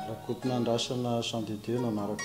Rakotonandrasana Jean de Dieu no anarako.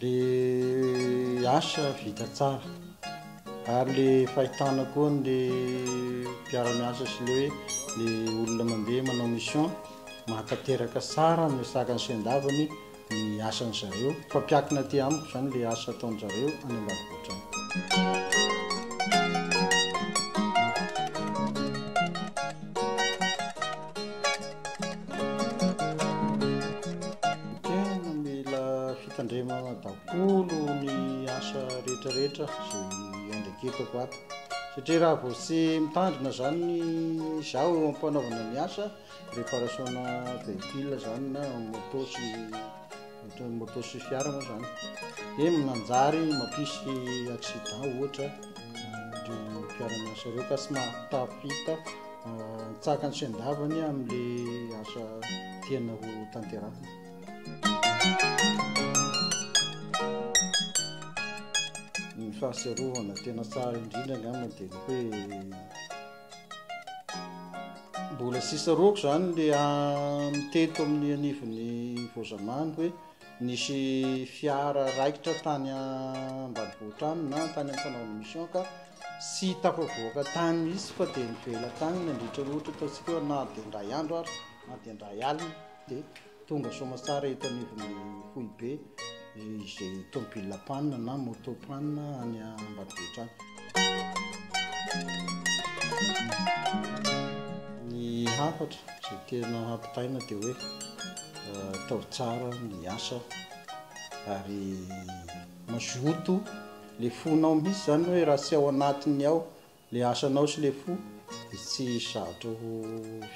DH, vita tsara. Ary ilay fahitana koa an'ilay mpiara-miasa sy ilay hoe ilay olona mandeha manao mission, mahatanteraka tsara ny resaka ny sendavany ny asan-dry zareo. Mifampiankina aty amiko izany ilay asa ataon-dry zareo any ambanivohitra any. fitandremana daholo ny asa rehetrarehetra izay andraiketako ato satria raha vao tsy mitandrina zany ny zaho eo ampanaovana ny asa réparation-na véhicule zany na moto sy ohatran'ny moto sy fiara moa zany dia minanjary mampisy accident ohatra ireo mpiara-miasa ireo ka tsy mahatafita Mitsahaka ny sain-davany amin'ilay asa tiana ho tanterahina. Ny fahatsiarovana tena tsara indrindra angamba dia ny hoe mbola sisa roako izany le mitety amin'ny anivon'ny voazamany hoe Nisy fiara raikitra tany ambanivohitra any na tany amin'ny fanaovana mission ka tsy tafavoaka tany mihitsy fa dia nivela tany nandritra ny ohatra ataontsika hoe na dia indray andro ary na dia indray alina dia tonga soamantsara eto anivon'ny foibe izay tomobilina panina na moto panina any ambanivohitra any. Ny hafatra izay tena hampitaina dia hoe atao tsara ny asa ary mazoto ilay fonao mihitsy izany hoe raha tsy ao anatiny ao ilay asanao sy ilay fo dia tsy sahatrao ho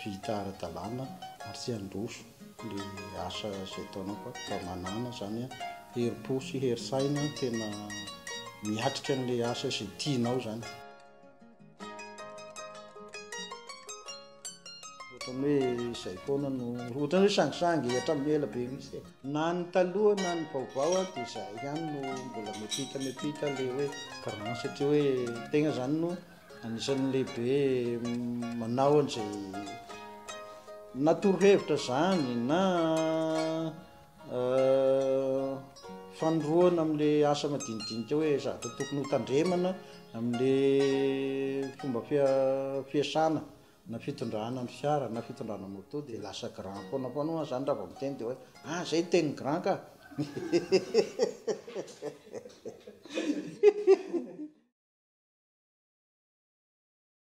vita ara-dalàna ary tsy handroso. le asa zay ataonao fa fa manana zany herim-po sy herin-tsaina tena miatrika an'le asa zay tianao zany. Ohatran'ny hoe izay foana no ohatran'ny hoe sangisangy hatramin'ny ela be mihitsy e. Na ny taloha na ny vaovao a dia izahay ihany no mbola mepita mepita le hoe grand satria hoe tegna zany no Anisan'ny lehibe manao an'izay na torohevitra izany na fanoroana amin'ilay asa madinidinika hoe zavatra tokony ho tandremana amin'ilay fomba fiasana. na fitondrana ny fiara na fitondrana moto dia lasa grand foana foana ho'a zany raha vao miteny dia hoe ah zay ny tenin'ny grand ka